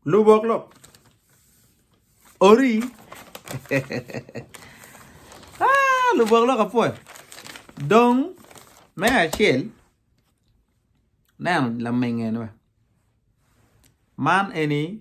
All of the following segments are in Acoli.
Lubok lok. Ori. ah, lubok lok apwoyo. Dong me acel neno lamenge ni man eni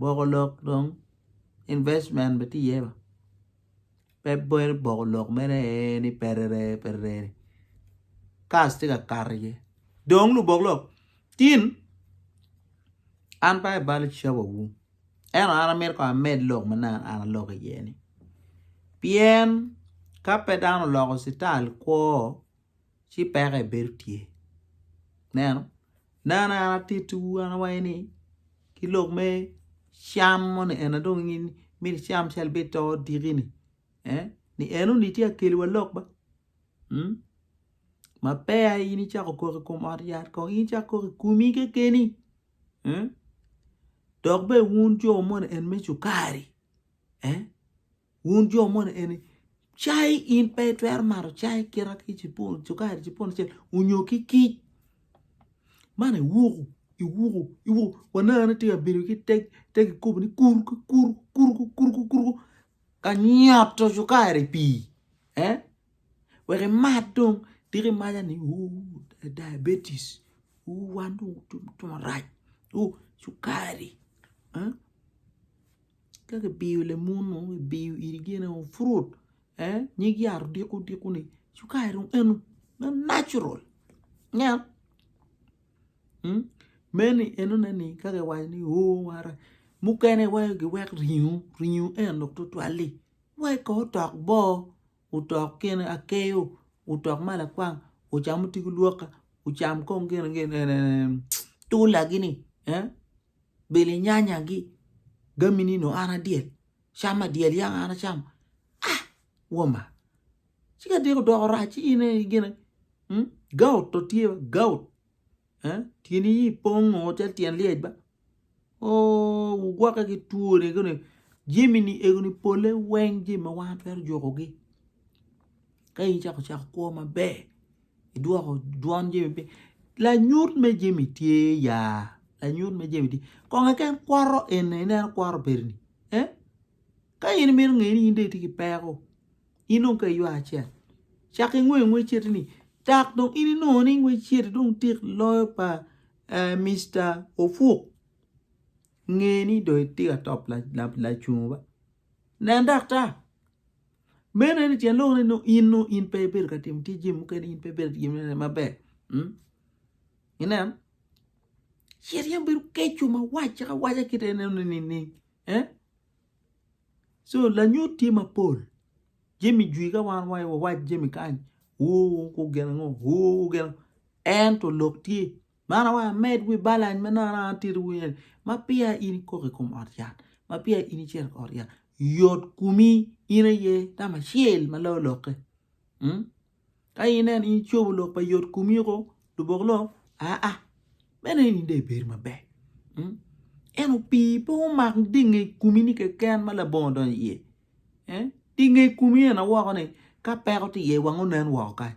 boko lok dong investment bene tye iye ba pe bedo boko lok mere ee ni perere perere kas tye ka kato iye dong lubok lok tin an pe aye balo cawawu ento an amito kong amed lok ma nanga an alok iye-ni pien ka pe dano oloko cital kwo ci peke bedo tye. Ineno? Nano an atittiwu an awaco ni ki lok me cam moni eni dong in miti icam calo bed to odiki-ni eh ni enoni tye ka keliwa lok ba mm ma peya in icako kok i kom ot yat kong in icak kok i komi kekeni eh dok bene wun jo moni eni me cukari eh Wun jo moni eni, cai in pe itwero mato cai kite ki cukari cipun acel onyo ki kic? Man iwuku, iwuku, iwuku, waneno tye ka bedo ki te kikopo ni kuruku, kuruku, kuruku, kuruku, kuruku, ka nyoto cukari i pii eh wek imat dong tika imaca ni ooh diabetes, ooh wan dong otum otum marac, ooh cukari eh. Ka kibiyo lemunu ibiyo iri gin o fruit eh nyig yat odiko odiko ni cukari dong eno ma natural nya mm meni enone ni ka kiwaco ni oo wara mukene waco giwek ringo ringo en dok tutwal-li wek ko otok boo otok gin akeyo otok ma lakwang ocam otigo lwokke ocam kong gin gin tutulagi-ni eh Bilinyanya gi gami nino an adyel cam adyel yaka an acam ah woma ci ka diko doko rac ci in aye gine hmm? gout to tye ba gout eh? tyeni yi pongo calo tyen lyec ba oh wugwoke ki twoni kuni jimi ni egoni pole weng jimi ma wan twero jukogi ka in cako cako kwo maber idwoko dwon jami piny lanyut me jami tye ya lanyut me jami tye kong keken kwoto eni ineno kwoto bedo ni eh ka in imito ngeyo ni in dong itye ki peko in dong ka iywa acel cak ingwe ngwec citi ni dok dong in inongo ni ngwec citi dong tik loyo pa Mister Ofuk nge ni dong itye ka top lacungo ba nen daktar Meno en tyen lok ni nongo in nongo in pe ibedo ka timo ticci mukene, in pe ibedo ka timone maber. Ineno? Cit yam bedo keco ma wac caka waca kite en ineno nining? Eh? So lanyut tye mapol. Jami jwi ka wan waco wawac jami kany, oo gin ango, oo gin ango. Ento lok tye. Man awaco amed wi balany ma nongo an atito wi eni ma peya in ikok i kom ot yat ma peya in icito i ot yat yot komi in aye tam acel ma loyo lokke mm ka ineno in icobo lok pa yot komi oko lubok lok aa meno eni dong ibedo maber mm ento pii pe omak dye nge komi ni keken ma labongo odonyo iye dye nge komi eni woko ni ka peko tye iye wang onen woko kany.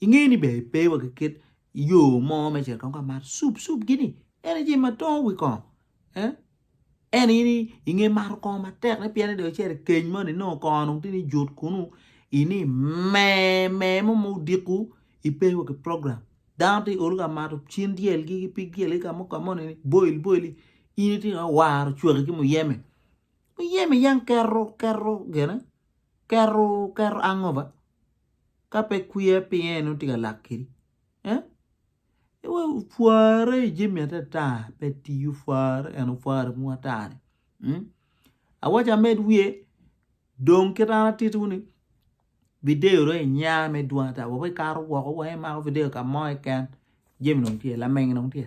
Ingeyo ni ber pe wa ki kit yo mo me cito tongo ka mar sup sup gini en aye jami ma tongo wi kongo eh eno in inge mato kongo matek ne pien ide ocito i keny moni nongo kongo nongo tye ni jut kunu ini me me mo ma odiku ipe wa ki program dano tye olo ka mato cin dyel gi ki pig dyel gi ka mo ka moni ni boil boil in itye ka waro cwaki ki muyeme muyeme yang kero kero gene kero kero hangover. ka pe kwiya pinge en nongo tye ka lak kedi eh pware i jami atata pe tiyo pware en opware mogo atani awaco amed wiye dong kita an atitiwu ni video dong inya me dwong ata wa weko ikato woko wa imako video kamo keken jami dong tye lameng dong tye.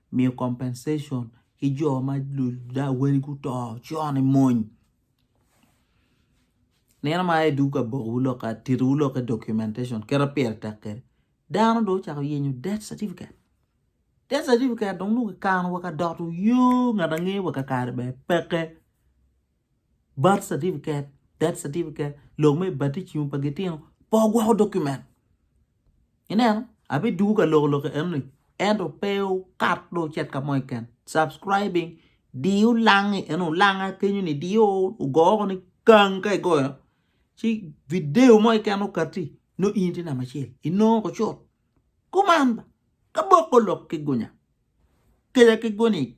miyo compensation ki jo ma ludawane guto cone mony nino ma idwogo ka bokowu lok titowu lok ki documentation kit ma pire tek kwede dano dong ocako yenyo death certificate, death certificate dong nongo kikano wa ka dot nyo ngat angeya wa kakare bene peke. Birth certificate, death certificate, lok me baticim pa gitino pe ogwoko document. Ineno, abidugu ka loko lok enoni, ento pe okat do ocit ka mo keken. Subscribing, diyo langi eno, olanga kenyo ni diyo ogo ni kang ka igoyo, ci video mo keken okati, no in itye namba acel, inongo ko cut. Kuman ba, ka boko lok ki gunya, keja ki guni.